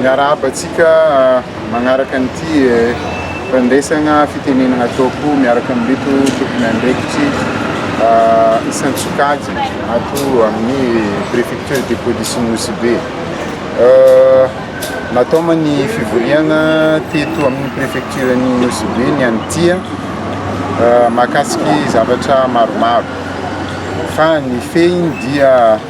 Miarahaba antsika magnaraka an'ity fandresagna fitenenagna ataoko miaraka amin'ireto tompon'andraikitry isan-tsokajy ato amin'ny préfecture de police Nosy Be. Nataoma ny fivoriagna teto amin'ny préfecture ny Nosy Be ny an'ny tia mahakasiky zavatra maromaro fa ny fehiny dia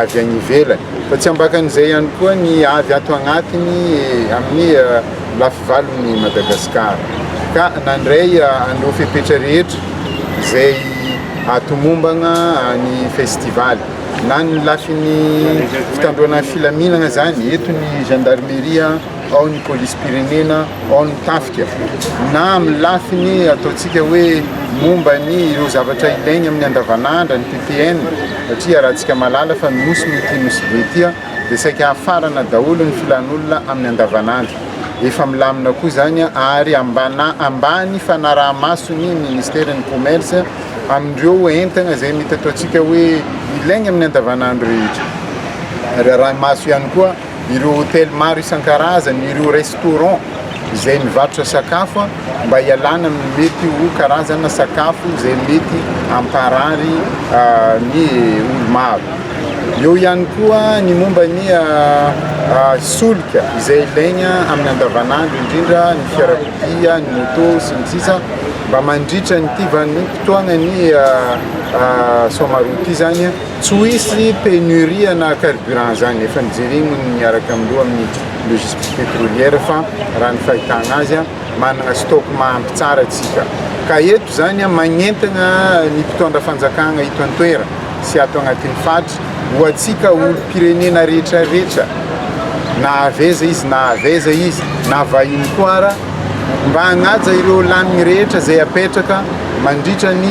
avy any ivelany. Fa tsy ambakan'izay ihany koa ny avy ato agnatiny amin'ny lafivalon'i Madagasikara. Ka nandray an'ireo fepetra rehetra izay hatomombagna ny festivaly. Na ny lafiny fitandroana ny filaminagna zany, eto ny gendarmerie, ao ny polisim-pirenena, ao ny tafika, na amin'ny lafiny ataontsika hoe momba ny ireo zavatra ilaigny amin'ny andavanandra, ny PPN, satria iarahantsika mahalala fa Nosy no ity Nosy be ity, dia saika hafarana daholo ny filan'olona amin'ny andavanandro. Efa milamina koa izany ary ambana, ambany fanaraha-maso ny Ministeran'ny Commerce amin'ireo entana izay mety ataontsika hoe ilaigny amin'ny andavanandro rehetra. Ary arahi-maso ihany koa ireo hotely maro isan-karazany, ireo restaurant izay mivarotra sakafo mba hialana amin'ny mety ho karazana sakafo izay mety hamparary ny olo-maro. Eo ihany koa ny momba ny solika izay ilaigna amin'ny andavanandro indrindra ny fiarakodia, ny moto sy ny sisa mba mandritra ny tiva ny fotoagnan'ny somaroty izany. Tsy ho hisy pénurie na carburant zany, efa nojereny ny miaraka amin'ny loha amin'ny logistique pétrolière fa raha ny fahitana azy manana stock mahampy tsara tsika ka eto zany magnentana ny mpitondra fanjakana eto antoera sy ato agnatin'ny fatra ho atsika olom pirenena rehetra rehetra na avy aiza izy na avy aiza izy na vahiny koa ara mba hagnaja ireo laniny rehetra zay apetraka mandritra ny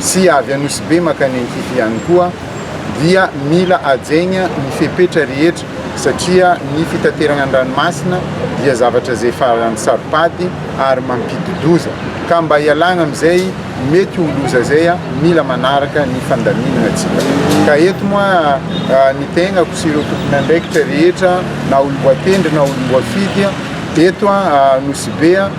sy avy Anosibe mankany Ankify ihany koa dia mila hajaina ny fepetra rehetra satria ny fitaterana ny ranomasina dia zavatra izay faran'ny saropady ary mampidi-doza ka mba hialana amin'izay mety ho loza izay mila manaraka ny fandaminana antsika ka eto moa ny tegnako sy ireo tompon'andraikitra rehetra na olom-boatendry na olom-boafidy eto Anosibe